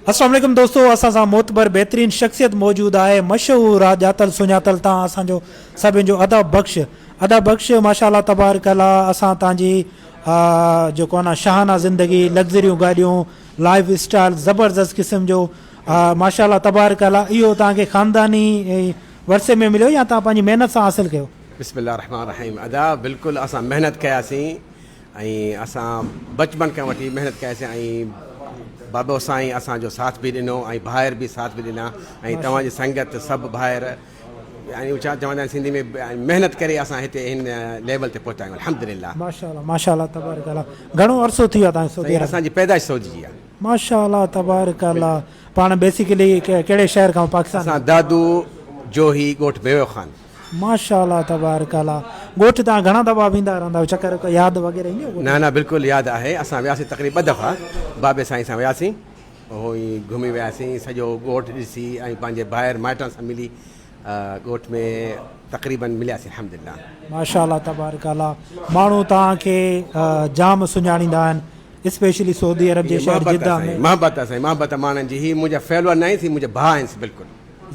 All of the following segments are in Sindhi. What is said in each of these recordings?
السلام عليڪم دوستو اسان سان معتبر بهترين شخصيت موجود آهي مشهور آ ڄاتل سڃاتل تان اسان جو سڀين جو ادا بخش ادا بخش ماشاءالله تبارڪ الله اسان تان جي آ جو ڪو نا شاهانه زندگي لگزريون گاڏيون لائف اسٽائل زبردست قسم جو آ ماشاءالله تبارڪ الله اهو تان کي خانداني ورثي ۾ مليو يا تان پنهنجي محنت سان حاصل ڪيو. بسم الله الرحمن الرحيم ادا بلڪل اسان محنت ڪياسين ۽ اسان بچپن کان وٺي محنت ڪياسين ۽ بابو سائين اسان جو ساٿ به ڏنو ۽ ڀائر به ساٿ به ڏنا ۽ توهان جي سنگت سڀ ڀائر ۽ ڇا چوندا آهن سنڌي ۾ محنت ڪري اسان هتي هن ليول تي پهتا آهيون الحمدلله ماشاءالله ماشاءالله تبارڪ الله گهڻو عرصو ٿي ويو آهي سعودي سائين عرب اسان جي پيدائش سعودي جي آهي ماشاءالله تبارڪ الله پاڻ بيسيڪلي ڪهڙي شهر کان پاڪستان اسان دادو جوهي ڳوٺ بيوي خان ماشاءالله تبارڪ الله ڳوٺ تان گهڻا دفعا ويندا رهندا آهيو چڪر ڪو ياد وغيره ايندي ڳوٺ نه نه بلڪل ياد آهي اسان وياسين تقريب ٻه دفعا بابي سائين سان وياسين اهو ئي گهمي وياسين سڄو ڳوٺ ڏسي ۽ پنهنجي ڀائر مائٽن سان ملي ڳوٺ ۾ تقريبن ملياسين الحمدلله. ماشاءالله تبارڪ الله ماڻهو توهان کي جام سڃاڻيندا آهن اسپيشلي سعودي عرب جي شهر جده ۾. محبت آهي سائين محبت محبت ماڻهن جي هي منهنجا فيلور ناهين سي منهنجا ڀاء آهن سي بلڪل.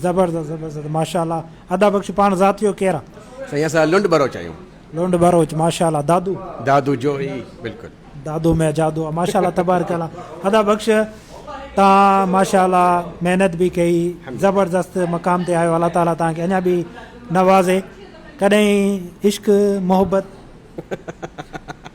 زبردست زبردست ماشاءالله ادا بخش پاڻ ذاتيو ڪير آ. سائين اسان لنڊ بروچ آهيون. لنڊ بروچ ماشاءالله دادو. دادو جوهي بلڪل. دادو مي جادو آ ماشاءالله تبارڪ الله ادا بخش تان ماشاءالله محنت به ڪئي زبردست مقام تي آيو الله تعالي تان کي اڃا به نوازي ڪڏهن عشق محبت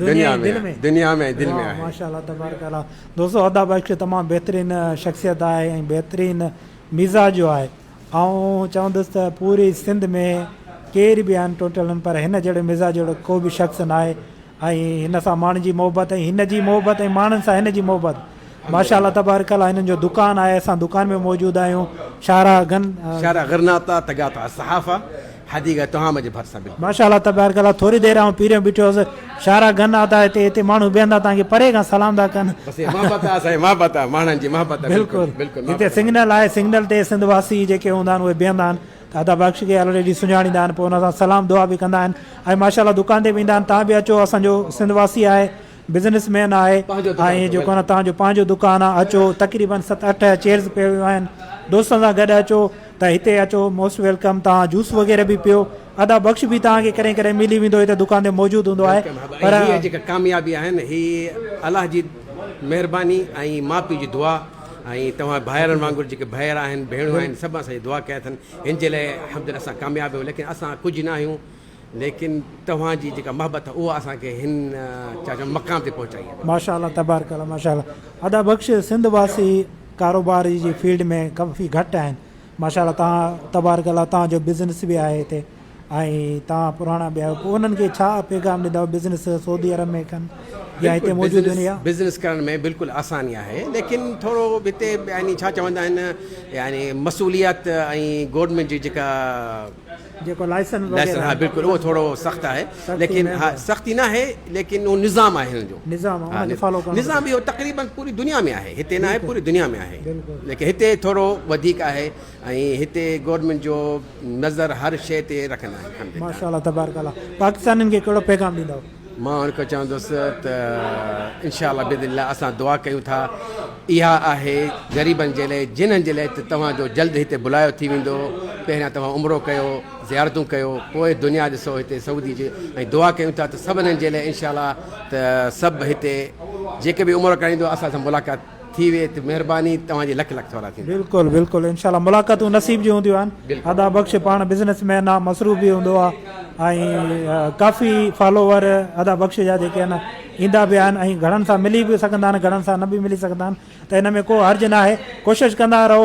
دنيا ۽ دل ۾. دنيا ۾ ۽ دل ۾ آهي. ماشاء الله تبارڪ الله دوستو ادا بخش تمام بهترين شخصيت آهي ۽ بهترين مزاج جو آهي آئون چوندس ته پوري سنڌ ۾ ڪير به آهن ٽوٽلن پر هن جهڙي مزاج جهڙو ڪو به شخص ناهي ۽ هن سان ماڻهن جي محبت ۽ هن جي محبت ۽ ماڻهن سان هن جي محبت ماشاءالله تبارڪ الله هنن جو دڪان آهي اسان دڪان ۾ موجود آهيون شاهراهه گن. شارع غرناطه تگاطه الصحافه حديقه تهامه جي ڀرسان بلڪل. ماشاءالله تبارڪ الله ٿوري دير آئون پيريون بيٺو هوس شاهراهه گن آتا هتي هتي ماڻهو بيهن ٿا تانکي پري کان سلام ٿا ڪن. بس هي محبت آهي سائين محبت آهي ماڻهن جي محبت آهي بلڪل بلڪل هتي سنگنل آهي سنگنل تي سنڌ واسي جيڪي هوندا آهن اهي بيهندا آهن ته ادا بخش کي آلريڊي سڃاڻيندا آهن پوء ان سان سلام دعا به ڪندا آهن ۽ ماشاءالله دڪان تي به ايندا آهن تان به اچو اسان جو سنڌ واسي آهي بزنس مين آهي ۽ اهي جيڪو آهن توهان جو پنهنجو دڪان آهي اچو تقريبن ست اٺ چيئرز پيون ويون آهن دوستن سان گڏ اچو ته هتي اچو موسٽ ويلڪم توهان جوس وغيره به پيو ادا بخش به توهان کي ڪڏهن ڪڏهن ملي ويندو هتي دڪان تي موجود هوندو آهي پر هي جيڪا ڪاميابي آهن هي الله جي مهرباني ۽ ماء پيء جي دعا ۽ توهان ڀائرن وانگر جيڪي ڀائر آهن ڀيڻون آهن سڀ اسان جي دعا ڪيا اٿن هن جي لاء الحمدلله اسان ڪامياب آهيون ليڪن اسان ڪجهه نه آهيون ليڪن توهان جي جيڪا محبت اها اسان کي هن ڇا چئبو مقام تي پهچائي اٿو. ماشاء الله تبارڪ الله ماشاء الله ادا بخش سنڌ واسي ڪاروبار جي فيلڊ ۾ ڪافي گهٽ آهن ماشاء الله توهان تبارڪ الله توهان جو بزنس به آهي هتي ۽ توهان پراڻا به آهيو پوء انهن کي ڇا پيغام ڏيندؤ بزنس سعودي عرب ۾ ڪن يا هتي موجود بزنس دنيا بزنس ڪرڻ ۾ بلڪل آساني آهي ليڪن ٿورو هتي يعني ڇا چوندا آهن يعني مصوليات ۽ گورنمينٽ جي جيڪا جيڪو لائسن وغيره ها بلڪل اهو ٿورو سخت آهي ليڪن ها سختي ناهي ليڪن اهو نظام آهي هن جو نظام آهي ان کي فالو ڪرڻو نظام اهو تقريبا پوري دنيا ۾ آهي هتي ناهي پوري دنيا ۾ آهي ليڪن هتي ٿورو وڌيڪ آهي ۽ هتي گورنمينٽ جو نظر هر شيء تي رکندا آهن ماشاءالله تبارڪ الله پاڪستانين کي ڪهڙو پيغام ڏيندؤ مان هن کي چوندس ته انشاء الله باذن الله اسان دعا ڪيون ٿا اها آهي غريبن جي لاء جنھن جي لاء ته توهان جو جلد هتي بلايو ٿي ويندو پهريان توهان عمرو ڪيو زيارتون ڪيو پوء دنيا ڏسو هتي سعودي جي ۽ دعا ڪيون ٿا ته سڀنن جي لاء انشاء الله ته سڀ هتي جيڪي به عمرو ڪرائيندو اسان سان ملاقات ٿي ويئي ته مهرباني توهان جي لک لک ٿورا ٿيندا. بلڪل بلڪل انشاء الله ملاقاتون نصيب جون هونديون آهن ادا بخش پاڻ بزنس مين آهي مصروف به هوندو آهي ۽ ڪافي فالوور ادا بخش جا جيڪي آهن ايندا به آهن ۽ گهڻن سان ملي به سگهندا آهن گهڻن سان نه به ملي سگهندا آهن ته ان ۾ ڪو حرج ناهي ڪوشش ڪندا رهو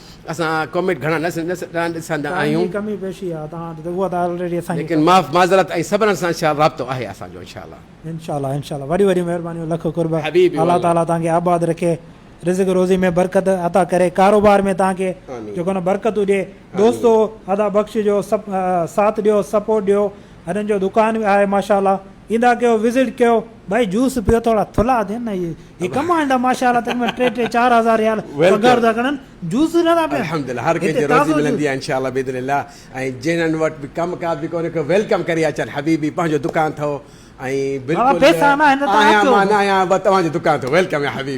اسان ڪامينٽ گهڻا نه ڏسندا آهيون. ٽائيم جي ڪمي پيشي آهي توهان وٽ ته اها ته آلريڊي اسان کي. ليڪن معاف معذرت ۽ صبرن سان شال رابطو آهي اسان جو انشاء الله. انشاء الله انشاء الله وڏيون وڏيون مهربانيون لک قرب حبيبي الله والله. تعالي توهان کي آباد رکي رزق روزي ۾ برڪت عطا ڪري ڪاروبار ۾ توهان کي آمين. جيڪو نه برڪتون ڏي دوستو ادا بخش جو سپ ساٿ ڏيو سپورٽ ڏيو هنن جو دڪان به آهي ماشاء الله ايندا ڪيو وزٽ ڪيو. ڀائي جوس پيو ٿورا ٿلها ٿين نه اهي هي ڪمانڊ ماشاءالله تن ۾ ٽي ٽي چار هزار ريال پگهار ٿا کڻن جوس نه ٿا پين الحمدلله هر ڪنهن کي روزي ملندي آهي انشاءالله باذن الله ۽ جنن وٽ به ڪم ڪار به ڪونهي ڪو ويلڪم ڪري اچن حبيبي پنهنجو دڪان اٿو ۽ بلڪل آهيان مان نه آهيان بس توهان جو دڪان اٿو ويلڪم يا حبيبي.